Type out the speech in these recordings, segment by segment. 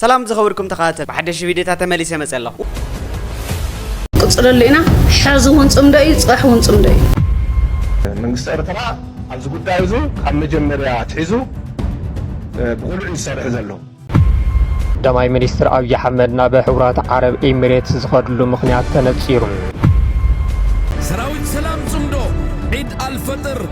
ሰላም ዝኸበርኩም ተኸታተልቲ ብሓደሽቲ ቪድዮታት ተመሊሰ መጸ ኣለኹ። ቅፅለሉ ኢና ሐዚ እውን ፅምዶ እዩ ፅባሕ እውን ፅምዶ እዩ። መንግስቲ ኤርትራ ኣብዚ ጉዳይ እዚ ካብ መጀመርያ ኣትሒዙ ብቕሉዕ እዩ ዝሰርሕ ዘሎ። ቀዳማይ ሚኒስትር ኣብዪ ኣሕመድ ናብ ሕቡራት ዓረብ ኤሚሬትስ ዝኸድሉ ምኽንያት ተነፂሩ። ሰራዊት ሰላም ጽምዶ ዒድ ኣልፈጥር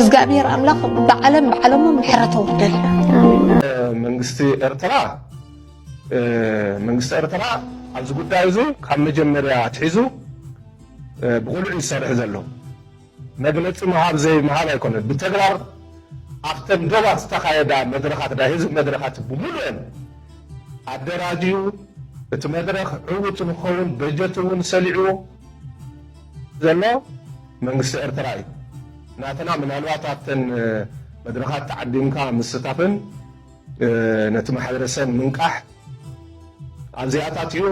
እዝጋኣብሄር ኣምላኽ ብዓለም ብዓለሙ ምሕረት ኣውርደልና። መንግስቲ ኤርትራ መንግስቲ ኤርትራ ኣብዚ ጉዳይ እዚ ካብ መጀመርያ ኣትሒዙ ብቑልዕ እዩ ዝሰርሕ ዘሎ። መግለጺ ምሃብ ዘይምሃብ ኣይኮነን። ብተግባር ኣብተን ዶባት ዝተኻየዳ መድረኻት ናይ ህዝቢ መድረኻት ብምሉኤን ኣደራጅዩ እቲ መድረኽ ዕዉት ንክኸውን በጀት እውን ሰሊዑ ዘሎ መንግስቲ ኤርትራ እዩ። ናትና ምናልባት ኣብተን መድረኻት ተዓዲምካ ምስታፍን ነቲ ማሕበረሰብ ምንቃሕ ኣብ ዚኣታትዩ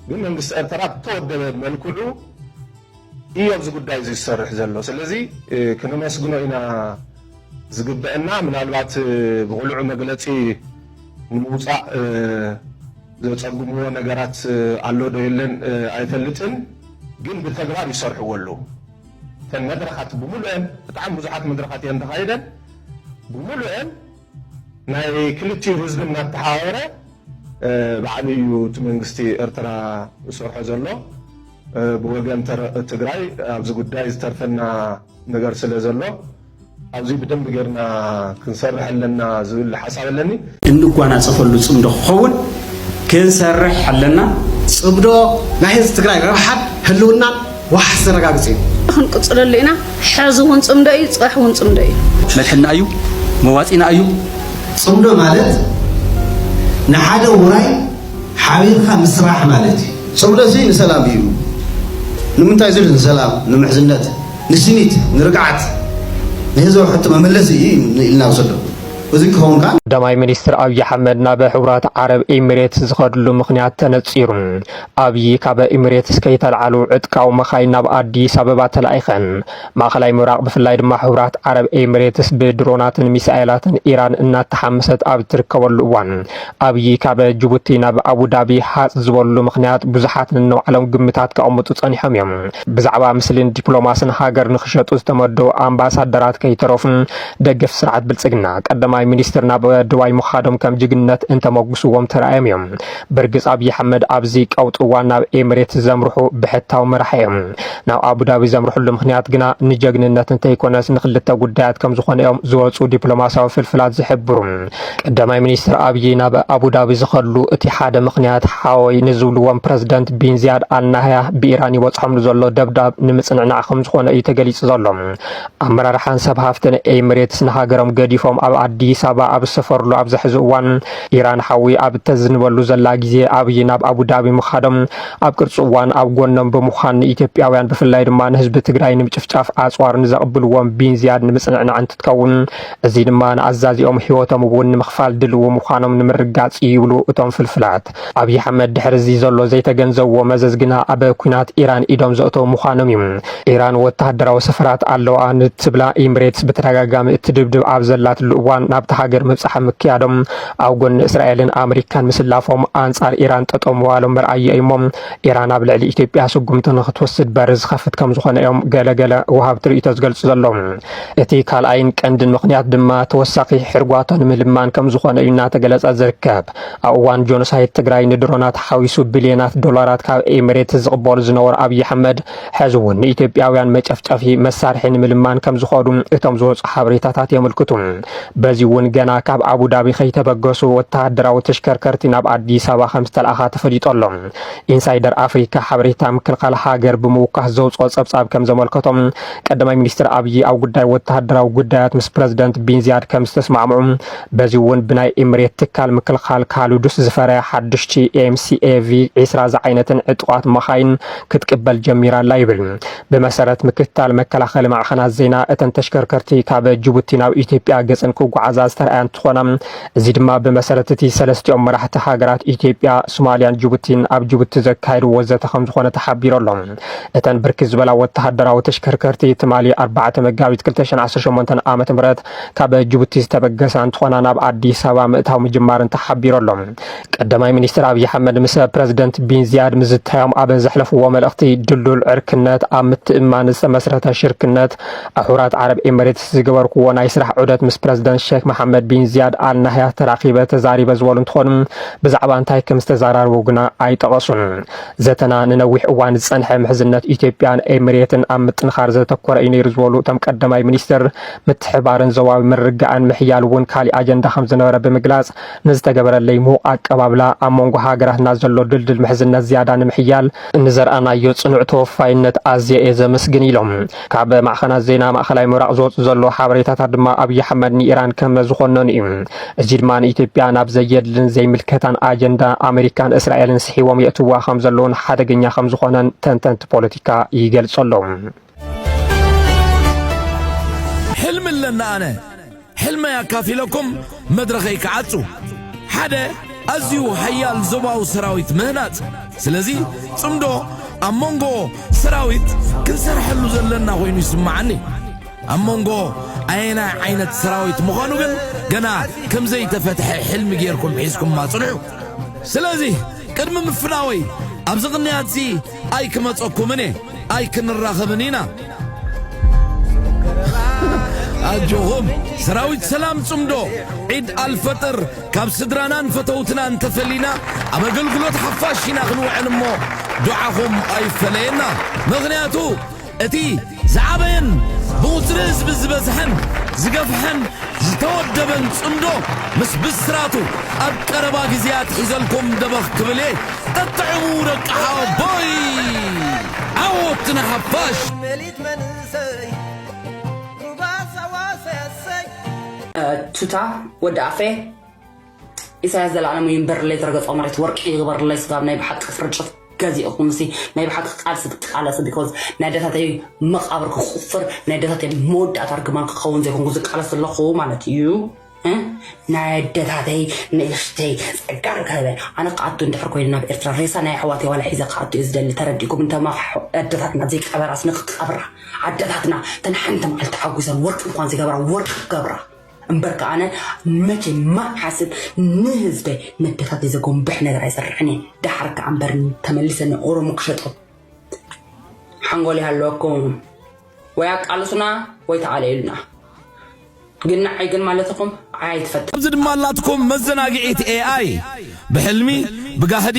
ግን መንግስቲ ኤርትራ ብተወደበ መልክዑ እዩ ኣብዚ ጉዳይ እዚ ዝሰርሕ ዘሎ። ስለዚ ክነመስግኖ ኢና ዝግበእና ምናልባት ብቕሉዑ መግለጺ ንምውጻእ ዘጸግምዎ ነገራት ኣሎ ዶ የለን ኣይፈልጥን ግን ብተግባር ይሰርሕዎ ኣለዉ እተን መድረኻት ብምሉኤን ብጣዕሚ ብዙሓት መድረኻት እየን ተኻይደን ብምሉኤን ናይ ክልቲኡ ህዝቢ እናተሓባበረ ባዕሉ እዩ እቲ መንግስቲ ኤርትራ ዝሰርሖ ዘሎ ብወገን ትግራይ ኣብዚ ጉዳይ ዝተርፈና ነገር ስለ ዘሎ ኣብዚ ብደንቢ ጌርና ክንሰርሕ ኣለና ዝብል ሓሳብ ኣለኒ። እንጓናፀፈሉ ፅምዶ ክኸውን ክንሰርሕ ኣለና። ፅምዶ ናይ ህዝቢ ትግራይ ረብሓን ህልውናን ዋሕስ ዘረጋግፅ እዩ። ክንቅፅለሉ ኢና። ሕዚ እውን ፅምዶ እዩ፣ ፅባሕ እውን ፅምዶ እዩ። መድሕንና እዩ፣ መዋፂእና እዩ። ፅምዶ ማለት ንሓደ ውራይ ሓቢርካ ምስራሕ ማለት እዩ። ጽምዶ'ዚ ንሰላም እዩ። ንምንታይ ዝብል ንሰላም፣ ንምሕዝነት፣ ንስኒት፣ ንርግዓት፣ ንህዝባዊ ሕቶ መመለሲ እዩ ኢልና ንወስዶ። እዚ ክኸውን ከኣ። ቀዳማይ ሚኒስትር ኣብዪ ኣሕመድ ናብ ሕቡራት ዓረብ ኤሚሬትስ ዝኸድሉ ምኽንያት ተነጺሩ። ኣብዪ ካብ ኤሚሬትስ ከይተልዓሉ ዕጥቃዊ መኻይን ናብ ኣዲስ ኣበባ ተላኢኸን። ማእኸላይ ምብራቕ ብፍላይ ድማ ሕቡራት ዓረብ ኤሚሬትስ ብድሮናትን ሚሳኤላትን ኢራን እናተሓመሰት ኣብ ትርከበሉ እዋን ኣብዪ ካብ ጅቡቲ ናብ ኣቡዳቢ ሃፅ ዝበሉ ምክንያት ብዙሓት ንነባዕሎም ግምታት ከቐምጡ ፀኒሖም እዮም። ብዛዕባ ምስልን ዲፕሎማስን ሃገር ንክሸጡ ዝተመደቡ ኣምባሳደራት ከይተረፉን ደገፍ ስርዓት ብልፅግና ቀዳማይ ሚኒስትር ናብ ዱባይ ምኻዶም ከም ጅግነት እንተመጉስዎም ተራእዮም እዮም። ብርግፅ ኣብዪ ኣሕመድ ኣብዚ ቀውጢ እዋን ናብ ኤሚሬትስ ዘምርሑ ብሕታዊ መራሒ እዮም። ናብ ኣቡዳቢ ዘምርሕሉ ምኽንያት ግና ንጀግንነት እንተይኮነስ ንክልተ ጉዳያት ከምዝኾነ እዮም ዝወፁ ዲፕሎማሲያዊ ፍልፍላት ዝሕብሩ። ቀዳማይ ሚኒስትር ኣብዪ ናብ ኣቡዳቢ ዝኸድሉ እቲ ሓደ ምኽንያት ሓወይ ንዝብልዎም ፕረዝደንት ቢን ዚያድ ኣል ናህያ ብኢራን ይበፅሖምሉ ዘሎ ደብዳብ ንምፅንዕናዕ ከምዝኾነ እዩ ተገሊፁ ዘሎ። ኣመራርሓን ሰብ ሃፍትን ኤሚሬትስ ንሃገሮም ገዲፎም ኣብ ኣዲስ ኣበባ ኣብ ዝሰፈርሉ ኣብዚ ሕዚ እዋን ኢራን ሓዊ ኣብ እተዝንበሉ ዘላ ግዜ ኣብዪ ናብ ኣቡዳቢ ምኻዶም ኣብ ቅርፂ እዋን ኣብ ጎኖም ብምዃን ንኢትዮጵያውያን ብፍላይ ድማ ንህዝቢ ትግራይ ንምጭፍጫፍ ኣፅዋር ንዘቕብልዎም ቢንዝያድ ንምፅንዕናዕ እንትትከውን እዚ ድማ ንኣዛዚኦም ህይወቶም እውን ንምኽፋል ድልው ምዃኖም ንምርጋፅ እዩ ይብሉ እቶም ፍልፍላት። ኣብይ ኣሕመድ ድሕሪ እዚ ዘሎ ዘይተገንዘብዎ መዘዝ ግና ኣብ ኩናት ኢራን ኢዶም ዘእተው ምዃኖም እዩ። ኢራን ወተሃደራዊ ሰፈራት ኣለውኣ ንትብላ ኢምሬትስ ብተደጋጋሚ እትድብድብ ኣብ ዘላትሉ እዋን ናብታ ሃገር ምብፃሕ ምክያዶም ኣብ ጎኒ እስራኤልን ኣመሪካን ምስላፎም ኣንጻር ኢራን ጠጠው ምባሎም መርኣያ እዩ እሞ ኢራን ኣብ ልዕሊ ኢትዮጵያ ስጉምቲ ንክትወስድ በሪ ዝኸፍት ከም ዝኾነ እዮም ገለ ገለ ወሃብቲ ርእይቶ ዝገልጹ ዘለዉ። እቲ ካልኣይን ቀንድን ምኽንያት ድማ ተወሳኺ ሕርጓቶ ንምልማን ከም ዝኾነ እዩ እናተገለጸ ዝርከብ። ኣብ እዋን ጆኖሳይድ ትግራይ ንድሮናት ሓዊሱ ቢልዮናት ዶላራት ካብ ኤሚሬት ዝቕበሉ ዝነበሩ ኣብዪ ኣሕመድ ሕዚ እውን ንኢትዮጵያውያን መጨፍጨፊ መሳርሒ ንምልማን ከም ዝኸዱ እቶም ዝወፁ ሓበሬታታት የመልክቱ። በዚ እውን ገና ካብ ኣቡዳቢ ከይተበገሱ ወተሃደራዊ ተሽከርከርቲ ናብ ኣዲስ ኣበባ ከም ዝተልኣኻ ተፈሊጦ ኣሎ። ኢንሳይደር ኣፍሪካ ሓበሬታ ምክልኻል ሃገር ብምውካስ ዘውፅኦ ፀብፃብ ከም ዘመልከቶ ቀዳማይ ሚኒስትር ኣብዪ ኣብ ጉዳይ ወተሃደራዊ ጉዳያት ምስ ፕረዚደንት ቢንዚያድ ከም ዝተስማዕምዑ በዚ እውን ብናይ ኢምሬት ትካል ምክልኻል ካልዱስ ዝፈረያ ሓዱሽቲ ኤምሲኤቪ ዒስራ ዝዓይነተን ዕጡቓት መኻይን ክትቅበል ጀሚራ ኣላ ይብል። ብመሰረት ምክትታል መከላኸሊ ማዕኸናት ዜና እተን ተሽከርከርቲ ካብ ጅቡቲ ናብ ኢትዮጵያ ገፀን ክጓዓዛ ዝተርኣያ እንትኾና እዚ ድማ ብመሰረት እቲ ሰለስቲኦም መራሕቲ ሃገራት ኢትዮጵያ፣ ሱማሊያን ጅቡቲን ኣብ ጅቡቲ ዘካየድዎ ዘተ ከምዝኾነ ተሓቢሩ ኣሎ። እተን ብርክት ዝበላ ወተሃደራዊ ተሽከርከርቲ ትማሊ ኣርባዕተ መጋቢት ክልተ ሽሕን ዓሰርተ ሸሞንተን ዓመተ ምህረት ካብ ጅቡቲ ዝተበገሳ እንትኾና ናብ ኣዲስ ኣበባ ምእታው ምጅማረን ተሓቢሩ ኣሎ። ቀዳማይ ሚኒስትር ኣብዪ ኣሕመድ ምስ ፕረዚደንት ቢን ዝያድ ምዝታዮም ኣብ ዘሕለፍዎ መልእኽቲ ድልዱል ዕርክነት፣ ኣብ ምትእምማን ዝተመስረተ ሽርክነት፣ ኣሑራት ዓረብ ኤምሬትስ ዝገበርክዎ ናይ ስራሕ ዑደት ምስ ፕረዚደንት ሼክ መሓመድ ቢን ዝያድ ኣል ናህያ ተራኺበ ተዛሪበ ዝበሉ እንትኾኑ ብዛዕባ እንታይ ከም ዝተዘራረቡ ግና ኣይጠቐሱን። ዘተና ንነዊሕ እዋን ዝፀንሐ ምሕዝነት ኢትዮጵያን ኤምሬትን ኣብ ምጥንኻር ዘተኮረ እዩ ነይሩ ዝበሉ እቶም ቀዳማይ ሚኒስትር ምትሕባርን ዞባዊ ምርግጋእን ምሕያል እውን ካሊእ ኣጀንዳ ከም ዝነበረ ብምግላፅ ንዝተገበረለይ ምዉቕ ኣቀባብላ፣ ኣብ መንጎ ሃገራትና ዘሎ ድልድል ምሕዝነት ዝያዳ ንምሕያል ንዘርኣናዮ ጽኑዕ ተወፋይነት ኣዝየ እየ ዘመስግን ኢሎም። ካብ ማዕኸናት ዜና ማእኸላይ ምብራቕ ዝወጽእ ዘሎ ሓበሬታታት ድማ ኣብይ ኣሕመድ ንኢራን ከመዝኾነኑ እዩ። እዚ ድማ ንኢትዮጵያ ናብ ዘየድልን ዘይምልከታን ኣጀንዳ ኣመሪካን እስራኤልን ስሒቦም የእትዉዋ ከምዘለዉን ሓደገኛ ከምዝኾነን ተንተንቲ ፖለቲካ ይገልጹ ኣለዉ። ሕልሚ ኣለና ኣነ ሕልመይ ኣካፊለኩም መድረኸይ ክዓጹ ሓደ ኣዝዩ ሓያል ዞባዊ ሰራዊት ምህናጽ ስለዚ ጽምዶ ኣብ መንጎ ሰራዊት ክንሰርሐሉ ዘለና ኮይኑ ይስምዓኒ ኣብ መንጎ ኣየናይ ዓይነት ሰራዊት ምዃኑ ግን ገና ከም ዘይተፈትሐ ሕልሚ ጌርኩም ሒዝኩማ ጽንሑ ስለዚ ቅድሚ ምፍናወይ ኣብዚ ቅንያት እዚ ኣይክመጸኩምን እየ ኣይክንራኸብን ኢና ኣጆኹም ሰራዊት ሰላም ጽምዶ ዒድ ኣልፈጥር ካብ ስድራናን ፈተውትናን ተፈሊና ኣብ ኣገልግሎት ሓፋሽ ኢና ክንውዕል እሞ ዱዓኹም ኣይፈለየና ምኽንያቱ እቲ ዝዓበየን ብቑጽሪ ህዝቢ ዝበዝሐን ዝገፍሐን ዝተወደበን ጽምዶ ምስ ብስራቱ ኣብ ቀረባ ግዝያት ሒዘልኩም ደበኽ ክብል እየ ጠጥዕሙ ደቂ ሓወቦይ ዓወት ንሓፋሽ። ሜሊት መንእሰይ ሩባ ሳዋ ሰሰይ። ቱታ ወዲ ኣፌ። ኢሳያስ ዘልኣለሙ ይንበርለይ ዝረገጾ መሬት ወርቂ ይግበርለይ ስጋብ ናይ ብሓቂ ፍርጭፍ ገዚእኹምሲ ናይ ብሓቂ ቃልሲ ክትቃለሲ ቢኮዝ ናይ ኣደታተይ መቃብር ክቁፍር ናይ ኣደታተይ መወዳእታ ርግማን ክኸውን ዘይኮንኩ ዝቃለስ ዘለኹ ማለት እዩ ናይ ኣደታተይ ንእሽተይ ጸጋ ርከበ ኣነ ክኣቱ እንድሕር ኮይኑ ናብ ኤርትራ ሬሳ ናይ ኣሕዋተይ ዋላ ሒዘ ክኣቱ እየ ዝደሊ ተረዲእኩም እንተማ ኣደታትና ዘይቀበራስ ንክቀብራ ኣደታትና ተን ሓንቲ መዓልቲ ሓጒሰን ወርቂ እንኳን ዝገብራ ወርቂ ክገብራ እምበር ከኣ ኣነ መቼን መዓስን ንህዝበይ መደፋፊ ዘጎንብሕ ነገር ኣይሰርሕን እየ ደሓር ከኣ እምበር ተመሊሰ ንኦሮሞ ክሸጦ ሓንጎል ይሃለወኩም ወይ ኣቃልሱና ወይ ተኣለዩልና ግን ንዓይ ግን ማለት ኢኹም ዓይ ኣይትፈጥ ኣብዚ ድማ ኣላትኩም መዘናግዒት ኤኣይ ብሕልሚ ብጋህዲ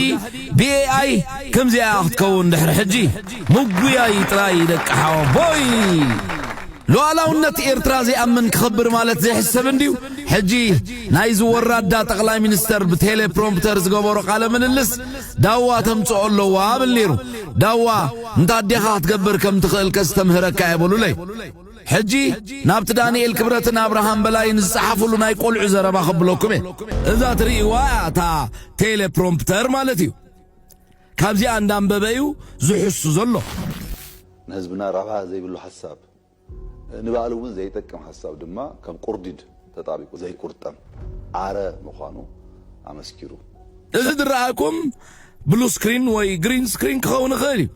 ብኤኣይ ከምዚኣ እያ ክትከውን ድሕሪ ሕጂ ምጉያይ ጥራይ ደቂ ሓወቦይ። ሉኣላውነት ኤርትራ ዘይኣምን ክኽብር ማለት ዘይሕሰብ እንድዩ ሕጂ ናይዚ ወራዳ ጠቅላይ ሚኒስተር ብቴሌ ፕሮምፕተር ዝገበሮ ቃለ ምልልስ ዳዋ ተምጽኦ ኣለዋ ብል ኔሩ ዳዋ እንታ ኣዴኻ ክትገብር ከም ትኽእል ከስተምህረካ እየ በሉለይ ሕጂ ናብቲ ዳኒኤል ክብረትን ኣብርሃም በላይን ዝጸሓፍሉ ናይ ቆልዑ ዘረባ ከብለኩም እየ። እዛ ትርእይዋ እያ እታ ቴሌፕሮምፕተር ማለት እዩ። ካብዚኣ እንዳንበበ እዩ ዝሕሱ ዘሎ። ንህዝብና ረብሓ ዘይብሉ ሓሳብ፣ ንባዕሉ እውን ዘይጠቅም ሓሳብ ድማ ከም ቁርዲድ ተጣቢቁ ዘይቁርጠም ኣረ ምዃኑ ኣመስኪሩ። እዚ ዝረኣኩም ብሉ ስክሪን ወይ ግሪን ስክሪን ክኸውን ይኽእል እዩ።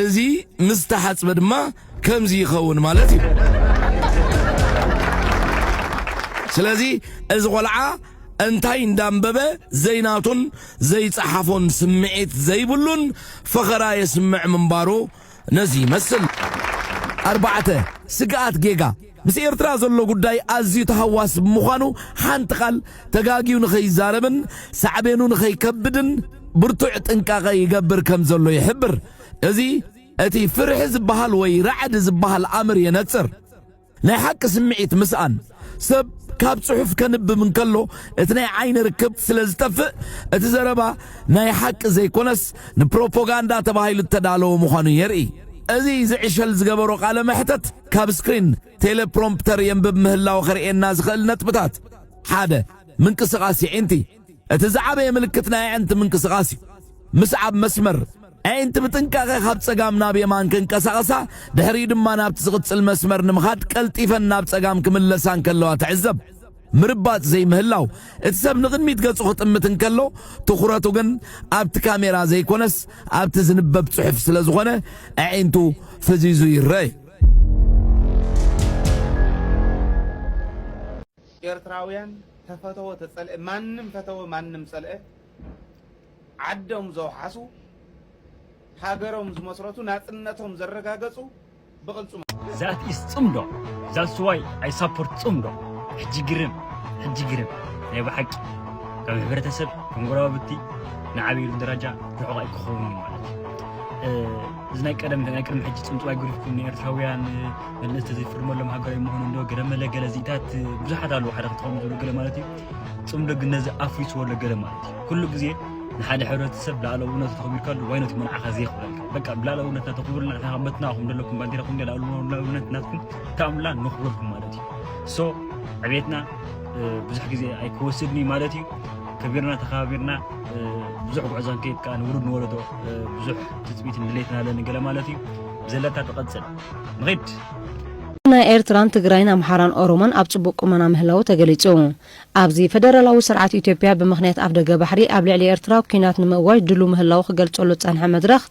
እዚ ምስ ዝተሓጽበ ድማ ከምዚ ይኸውን ማለት እዩ። ስለዚ እዚ ቆልዓ እንታይ እንዳንበበ ዘይናቱን ዘይጸሓፎን ስምዒት ዘይብሉን ፈኸራ የስምዕ ምንባሩ ነዚ ይመስል። ኣርባዕተ፣ ስግኣት ጌጋ። ምስ ኤርትራ ዘሎ ጉዳይ ኣዝዩ ተሃዋሲ ብምዃኑ ሓንቲ ቃል ተጋግዩ ንኸይዛረብን ሳዕቤኑ ንኸይከብድን ብርቱዕ ጥንቃቐ ይገብር ከም ዘሎ ይሕብር። እዚ እቲ ፍርሒ ዝበሃል ወይ ራዕዲ ዝበሃል ኣምር የነጽር። ናይ ሓቂ ስምዒት ምስኣን ሰብ ካብ ጽሑፍ ከንብብ እንከሎ እቲ ናይ ዓይኒ ርክብ ስለ ዝጠፍእ እቲ ዘረባ ናይ ሓቂ ዘይኮነስ ንፕሮፖጋንዳ ተባሂሉ እተዳለወ ምዃኑ የርኢ። እዚ ዝዕሸል ዝገበሮ ቃለ መሕተት ካብ ስክሪን ቴሌፕሮምፕተር የንብብ ምህላው ኸርእየና ዝኽእል ነጥብታት ሓደ ምንቅስቓስ የዒንቲ እቲ ዝዓበየ ምልክት ናይ ኣዕንቲ ምንቅስቓስ እዩ ምስዓብ መስመር ኣዒንቲ ብጥንቃቐ ካብ ጸጋም ናብ የማን ክንቀሳቐሳ ድሕሪኡ ድማ ናብቲ ዝቕጽል መስመር ንምኻድ ቀልጢፈን ናብ ጸጋም ክምለሳ እንከለዋ ትዕዘብ ምርባጽ ዘይምህላው፣ እቲ ሰብ ንቕድሚት ገጹ ክጥምት እንከሎ፣ ትኹረቱ ግን ኣብቲ ካሜራ ዘይኮነስ ኣብቲ ዝንበብ ጽሑፍ ስለ ዝኾነ ኣዒንቱ ፈዚዙ ይረኣ እዩ። ኤርትራውያን ተፈተወ ተጸልአ ማንም ፈተወ ማንም ጸልአ ዓዶም ዘውሓሱ ሃገሮም ዝመስረቱ ናጽነቶም ዘረጋገጹ ብቕልፅሙ። ዛት ኢስ ጽምዶ ዛትስ ዋይ ኣይ ሳፖርት ጽምዶ ሕጂ ግርም ሕጂ ግርም ናይ ብሓቂ ከም ሕብረተሰብ ከም ጎረባብቲ ንዓብየሉ ደረጃ ርሑቕ ኣይክኸውንን እዩ ማለት እዩ እዚ ናይ ቀደም ናይ ቅድሚ ሕጂ ጽምጽዋይ ጉሪፍኩም ንኤርትራውያን መልእኽቲ ዘይፍርመሎም ሃገራዊ ምዃኑ እንዶ ገለ መለ ገለ ዚእታት ብዙሓት ኣለዉ ሓደ ክተኸሙ ዝብሉ ገለ ማለት እዩ ፅምዶ ግን ነዚ ኣፍሪስዎ ኣሎ ገለ ማለት እዩ ኩሉ ግዜ ንሓደ ሕብረተሰብ ልኣላውነቱ ተኽቢርካሉ ዋይ ነቲ መርዓኻ ዘየኽብረልካ በቃ ብልኣላውነት ናተኽብርልና ንሕና መትናኹም ዘለኩም ባንዴራኹም እንዲያ ልኣላውነት ናትኩም ካምላ ንኽብረልኩም ማለት እዩ ሶ ዕቤትና ብዙሕ ግዜ ኣይክወስድን እዩ ማለት እዩ ከቢርና ተኸባቢርና ብዙሕ ጉዕዞ ንከይድ ከዓ ንውሉድ ንወለዶ ብዙሕ ትፅቢትን ድሌትን ኣለኒ ገለ ማለት እዩ ዘለታ ትቐፅል ንኺድ ናይ ኤርትራን ትግራይን ኣምሓራን ኦሮሞን ኣብ ጽቡቕ ቁመና ምህላዉ ተገሊጹ። ኣብዚ ፈደራላዊ ስርዓት ኢትዮጵያ ብምኽንያት ኣፍደገ ባሕሪ ኣብ ልዕሊ ኤርትራ ኲናት ንምእዋጅ ድሉው ምህላዉ ክገልጸሉ ዝጸንሐ መድረኽ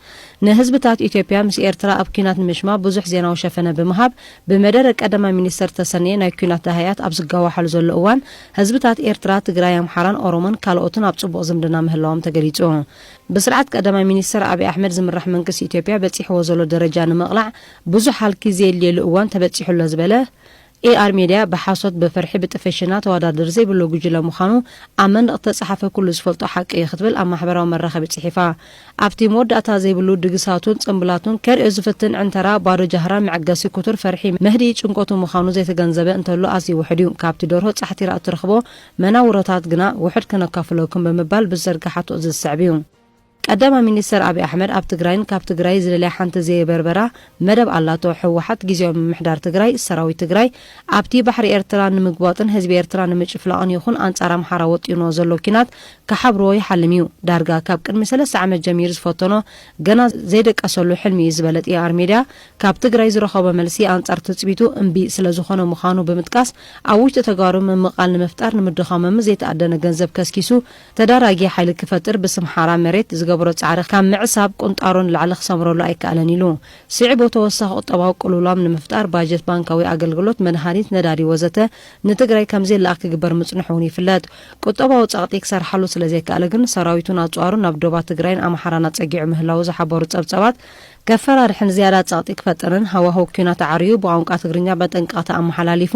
ንህዝብታት ኢትዮጵያ ምስ ኤርትራ ኣብ ኲናት ንምሽማ ብዙሕ ዜናዊ ሸፈነ ብምሃብ ብመደረ ቀዳማይ ሚኒስተር ዝተሰነየ ናይ ኲናት ደሃያት ኣብ ዝጋዋሓሉ ዘሎ እዋን ህዝብታት ኤርትራ ትግራይ ኣምሓራን ኦሮሞን ካልኦትን ኣብ ጽቡቕ ዝምድና ምህላዎም ተገሊጹ። ብስርዓት ቀዳማይ ሚኒስተር ኣቢ ኣሕመድ ዝምራሕ መንግስቲ ኢትዮጵያ በጺሕዎ ዘሎ ደረጃ ንምቕላዕ ብዙሕ ሃልኪ ዘየድልየሉ እዋን ተበጺሑ ኣሎ ዝበለ ኤኣር ሜድያ፣ ብሓሶት፣ ብፍርሒ፣ ብጥፍሽና ተወዳድሪ ዘይብሉ ጉጅለ ምዃኑ ኣብ መንደቕ ዝተጻሓፈ ኩሉ ዝፈልጦ ሓቂ እዩ ክትብል ኣብ ማሕበራዊ መራኸቢ ጽሒፋ። ኣብቲ መወዳእታ ዘይብሉ ድግሳቱን ጽምብላቱን ከርእዮ ዝፍትን ዕንተራ ባዶ ጃህራ መዕገሲ ኩቱር ፈርሒ መህድኢ ጭንቀቱ ምዃኑ ዘይተገንዘበ እንተሎ ኣዝዩ ውሑድ እዩ። ካብቲ ደርሆ ጻሕቲራ እትረኽቦ መናውሮታት ግና ውሑድ ከነካፍለኩም ብምባል ብዝዘርገሓቶ እዚ ዝስዕብ እዩ። ቀዳማይ ሚኒስተር ኣብይ ኣሕመድ ኣብ ትግራይን ካብ ትግራይ ዝደልያ ሓንቲ ዘየበርበራ መደብ ኣላቶ። ህወሓት ግዝያዊ ምምሕዳር ትግራይ፣ ሰራዊት ትግራይ ኣብቲ ባሕሪ ኤርትራ ንምግቧጥን ህዝቢ ኤርትራ ንምጭፍላቕን ይኹን ኣንጻር ኣምሓራ ወጢኑዎ ዘሎ ኲናት ክሓብሩዎ ይሓልም እዩ። ዳርጋ ካብ ቅድሚ ሰለስተ ዓመት ጀሚሩ ዝፈተኖ ገና ዘይደቀሰሉ ሕልሚ እዩ ዝበለ ጢኣር ሜድያ ካብ ትግራይ ዝረኸቦ መልሲ ኣንጻር ትጽቢቱ እምቢ ስለዝኾነ ምዃኑ ብምጥቃስ ኣብ ውሽጢ ተጋሩ ምምቓል ንምፍጣር ንምድኻሞምን ዘይተኣደነ ገንዘብ ከስኪሱ ተዳራጊ ሓይሊ ክፈጥር ብስም ሓራ መሬት ዝገበሮ ጻዕሪ ካብ ምዕሳብ ቁንጣሮ ንላዕሊ ክሰምረሉ ኣይከኣለን ኢሉ። ስዒቡ ተወሳኺ ቁጠባዊ ቅልውላም ንምፍጣር ባጀት ባንካዊ ኣገልግሎት፣ መድሃኒት፣ ነዳዲ ወዘተ ንትግራይ ከምዘይለኣኽ ክግበር ምጽንሑ እውን ይፍለጥ። ቁጠባዊ ጸቕጢ ክሰርሓሉ ስለዘይከኣለ ግን ሰራዊቱን ኣጽዋሩን ናብ ዶባት ትግራይን ኣምሓራን ኣጸጊዑ ምህላዉ ዝሓበሩ ጸብጻባት፣ ከፈራርሕን ዝያዳ ጸቕጢ ክፈጥርን ሃዋህው ኲናት ኣዕርዩ ብቋንቋ ትግርኛ መጠንቀቕታ ኣመሓላሊፉ፣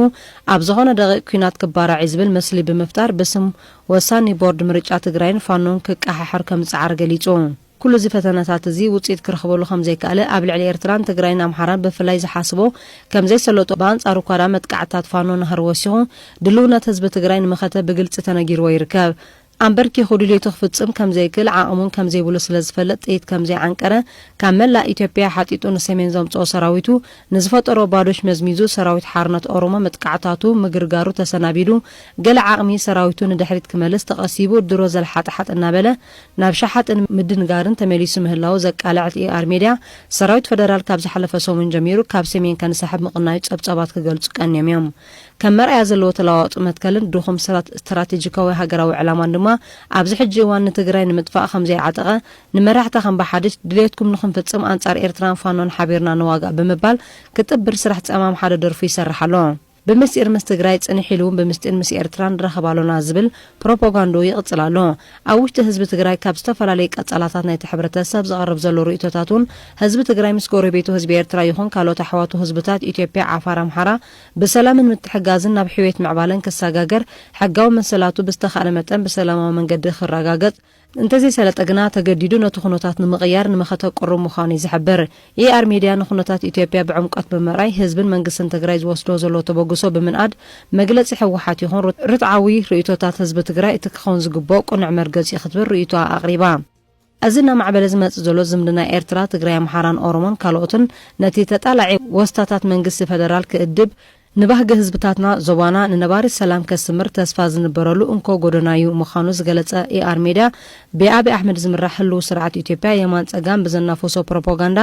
ኣብ ዝኾነ ደቒቕ ኲናት ክባራዕ'ዩ ዝብል ምስሊ ብምፍጣር ብስም ወሳኒ ቦርድ ምርጫ ትግራይን ፋኖን ክቀሓሕር ከምዝፀዓረ ገሊፁ። ኩሉ እዚ ፈተነታት እዚ ውፅኢት ክረኽበሉ ከምዘይከኣለ ኣብ ልዕሊ ኤርትራን ትግራይን ኣምሓራን ብፍላይ ዝሓስቦ ከምዘይሰለጦ ብኣንፃሩ እኳድኣ መጥቃዕትታት ፋኖ ናህሪ ወሲኹ ድልውነት ህዝቢ ትግራይ ንመኸተ ብግልፂ ተነጊርዎ ይርከብ ኣምበርኪኹ ድልየቱ ክፍፅም ከምዘይክእል ዓቕምውን ከምዘይብሉ ስለዝፈልጥ ጥይት ከምዘይዓንቀረ ካብ መላእ ኢትዮጵያ ሓጢጡ ንሰሜን ዘምፅኦ ሰራዊቱ ንዝፈጠሮ ባዶሽ መዝሚዙ ሰራዊት ሓርነት ኦሮሞ መጥቃዕታቱ ምግርጋሩ ተሰናቢዱ ገለ ዓቕሚ ሰራዊቱ ንድሕሪት ክመልስ ተቐሲቡ ድሮ ዘልሓጥሓጥ እናበለ ናብ ሸሓጥን ምድንጋርን ተመሊሱ ምህላዉ ዘቃለዐት ER Media፣ ሰራዊት ፈደራል ካብ ዝሓለፈ ሰሙን ጀሚሩ ካብ ሰሜን ከንሳሕብ ምቕናዩ ጸብጻባት ክገልጹ ቀንዮም እዮም። ከም መርኣያ ዘለዎ ተለዋዋጢ መትከልን ድኹም ስትራቴጂካዊ ሃገራዊ ዕላማን ድማ ኣብዚ ሕጂ እዋን ንትግራይ ንምጥፋእ ከምዘይዓጠቐ ንመራሕታ ከም ብሓድሽ ድልየትኩም ንኽንፍጽም ኣንጻር ኤርትራን ፋኖን ሓቢርና ንዋጋእ ብምባል ክጥብር ስራሕ ጸማም ሓደ ደርፉ ይሰርሕ ኣሎ። ብምስጢር ምስ ትግራይ ጽንሕ ኢሉውን ብምስጢር ምስ ኤርትራ ንራኸብ ኣሎና ዝብል ፕሮፖጋንድኡ ይቕጽል ኣሎ። ኣብ ውሽጢ ህዝቢ ትግራይ ካብ ዝተፈላለዩ ቀጻላታት ናይቲ ሕብረተሰብ ዝቐርብ ዘሎ ርእይቶታትውን ህዝቢ ትግራይ ምስ ጎረቤቱ ህዝቢ ኤርትራ ይኹን ካልኦት ኣሕዋቱ ህዝብታት ኢትዮጵያ፣ ዓፋር፣ ኣምሓራ ብሰላምን ምትሕጋዝን ናብ ሕውየት ምዕባለን ክሰጋገር ሕጋዊ መሰላቱ ብዝተኻእለ መጠን ብሰላማዊ መንገዲ ክራጋገጽ እንተዘይሰለጠ ግና ተገዲዱ ነቲ ኩነታት ንምቕያር ንመኸተ ቅሩብ ምዃኑ'ዩ ዝሕብር። ER Media ንኩነታት ኢትዮጵያ ብዕምቆት ብምርኣይ ህዝብን መንግስትን ትግራይ ዝወስድዎ ዘለዎ ተበግሶ ብምንኣድ መግለጺ ህወሓት ይኹን ርትዓዊ ርእይቶታት ህዝቢ ትግራይ እቲ ክኸውን ዝግብኦ ቅኑዕ መርገጺ'ዩ ክትብል ርእይቶኣ ኣቕሪባ። እዚ እናማዕበለ ዝመጽእ ዘሎ ዝምድና ኤርትራ፣ ትግራይ፣ ኣምሓራን ኦሮሞን ካልኦትን ነቲ ተጣላዒ ወስታታት መንግስቲ ፈደራል ክእድብ፣ ንባህጊ ህዝብታትና ዞባና ንነባሪ ሰላም ከስምር ተስፋ ዝንበረሉ እንኮ ጎደና'ዩ ምኻኑ ዝገለጸ ኤኣር ሜድያ፣ ብኣብይ ኣሕመድ ዝምራሕ ህልዉ ስርዓት ኢትዮጵያ የማን ጸጋም ብዘናፍሶ ፕሮፖጋንዳ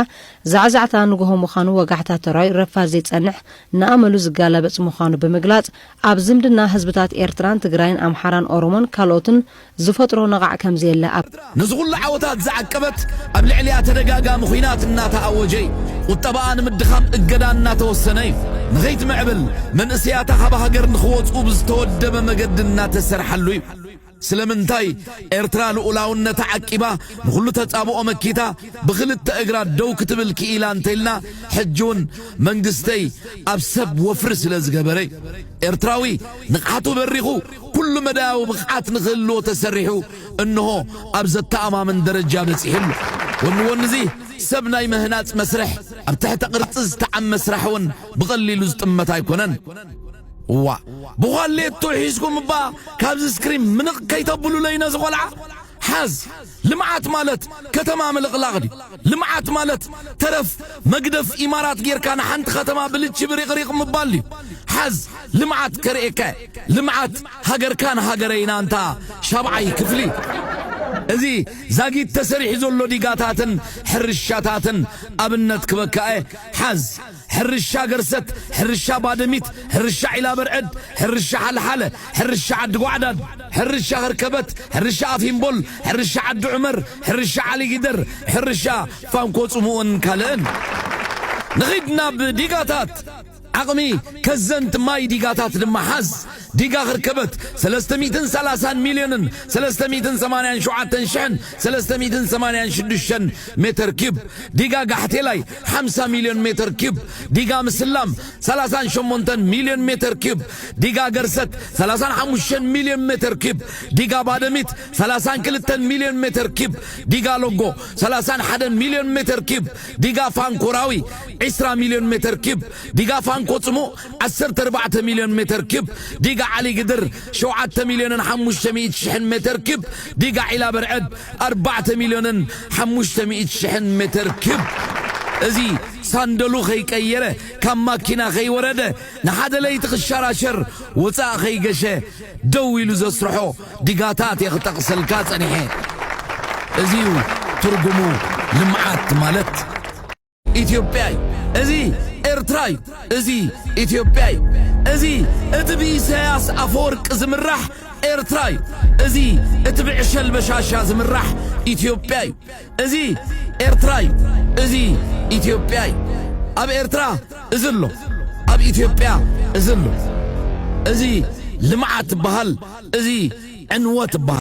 ዛዕዛዕታ ንጉሆ ምኻኑ ወጋሕታ ተራዩ ረፋድ ዘይጸንሕ ንኣመሉ ዝጋላበጽ ምኻኑ ብምግላጽ ኣብ ዝምድና ህዝብታት ኤርትራን ትግራይን ኣምሓራን ኦሮሞን ካልኦትን ዝፈጥሮ ነቓዕ ከም ዘየለ ኣብ። ነዚ ኹሉ ዓወታት ዝዓቀበት ኣብ ልዕሊኣ ተደጋጋሚ ኹናት እናተኣወጀ ዩ። ቁጠባኣ ንምድኻም እገዳ እናተወሰነ ዩ። ንኸይትምዕብል መንእሰያታ ካብ ሃገር ንኽወፅኡ ብዝተወደበ መገዲ እናተሰርሓሉ ዩ። ስለምንታይ ኤርትራ ልኡላውነታ ዓቂባ ንኹሉ ተፃብኦ መኪታ ብኽልተ እግራ ደው ክትብል ክኢላ እንተይልና ሕጂ ውን መንግስተይ ኣብ ሰብ ወፍሪ ስለዝገበረ ዩ። ኤርትራዊ ንቕሓቱ በሪኹ ኩሉ መዳያዊ ብቕዓት ንክህልዎ ተሰሪሑ እንሆ ኣብ ዘተኣማምን ደረጃ በጺሑ ኣሎ። ወኒ ወኒ'ዚ ሰብ ናይ ምህናጽ መስርሕ ኣብ ትሕተ ቅርጺ ዝተዓመ ስራሕ እውን ብቐሊሉ ዝጥመት ኣይኮነን። እዋእ ብዃሌቱ ሒዝኩም'ባ ካብዚ ስክሪን ምንቕ ከይተብሉለይ ነዚ ቆልዓ። ሓዝ! ልምዓት ማለት ከተማ ምልቕላቕ ድዩ? ልምዓት ማለት ተረፍ መግደፍ ኢማራት ጌርካ ንሓንቲ ከተማ ብልቺ ብሪቕሪቕ ምባል ድዩ? ሓዝ ልምዓት ከርእየካ እየ። ልምዓት ሃገርካን ሃገረይን ኣንታ ሻብዓይ ክፍሊ። እዚ ዛጊት ተሰሪሑ ዘሎ ዲጋታትን ሕርሻታትን ኣብነት ክበካ እየ። ሓዝ። ሕርሻ ገርሰት፣ ሕርሻ ባደሚት፣ ሕርሻ ዒላበርዕድ፣ ሕርሻ ሓልሓለ፣ ሕርሻ ዓዲጓዕዳድ፣ ሕርሻ ሀርከበት፣ ሕርሻ ኣፍሂምቦል፣ ሕርሻ ዓዲ ዑመር፣ ሕርሻ ዓሊጊደር፣ ሕርሻ ፋንኮ-ጽሙእን ካልእን። ንኺድ ናብ ዲጋታት ዓቕሚ ከዘንት ማይ ዲጋታት ድማ ሓዝ። ዲጋ ክርከበት ሰለስተ ሚእትን ሰላሳን ሚልዮንን ሰለስተ ሚእትን ሰማንያን ሸውዓተን ሽሕን ሰለስተ ሚእትን ሰማንያን ሽዱሽተን ሜተር ኪዩብ፣ ዲጋ ጋሕቴላይ ሓምሳ ሚልዮን ሜተር ኪዩብ፣ ዲጋ ምስላም ሰላሳን ሸሞንተን ሚልዮን ሜተር ኪዩብ፣ ዲጋ ገርሰት ሰላሳን ሓሙሽተን ሚልዮን ሜተር ኪዩብ፣ ዲጋ ባደሚት ሰላሳን ክልተን ሚልዮን ሜተር ኪዩብ፣ ዲጋ ሎጎ ሰላሳን ሓደን ሚልዮን ሜተር ኪዩብ፣ ዲጋ ፋንኮ ራዊ ዕስራ ሚልዮን ሜተር ኪዩብ፣ ዲጋ ፋንኮ ጽሙእ ዓሰርተ ኣርባዕተ ሚልዮን ሜተር ኪዩብ ዲጋ ዓሊ ግድር፣ ሸውዓተ ሚልዮንን ሓሙሽተ ሚእቲ ሽሕን ሜተር ኪዩብ ዲጋ ዒላ በርዐድ፣ ኣርባዕተ ሚልዮንን ሓሙሽተ ሚእቲ ሽሕን ሜተር ኪዩብ እዚ ሳንደሉ ከይቀየረ ካብ ማኪና ከይወረደ ንሓደ ለይቲ ክሸራሸር ወፃእ ከይገሸ ደው ኢሉ ዘስርሖ ዲጋታት እየ ክጠቕሰልካ ፀኒሐ። እዚ እዩ ትርጉሙ ልምዓት ማለት። ኢትዮጵያ እዩ እዚ ኤርትራ እዩ እዚ ኢትዮጵያ እዩ እዚ እቲ ብኢሳያስ ኣፈወርቂ ዝምራሕ ኤርትራ እዩ እዚ እቲ ብዕሸል በሻሻ ዝምራሕ ኢትዮጵያ እዩ እዚ ኤርትራ እዩ እዚ ኢትዮጵያ እዩ ኣብ ኤርትራ እዚ ኣሎ ኣብ ኢትዮጵያ እዚ ኣሎ እዚ ልምዓት በሃል እዚ ዕንወት በሃል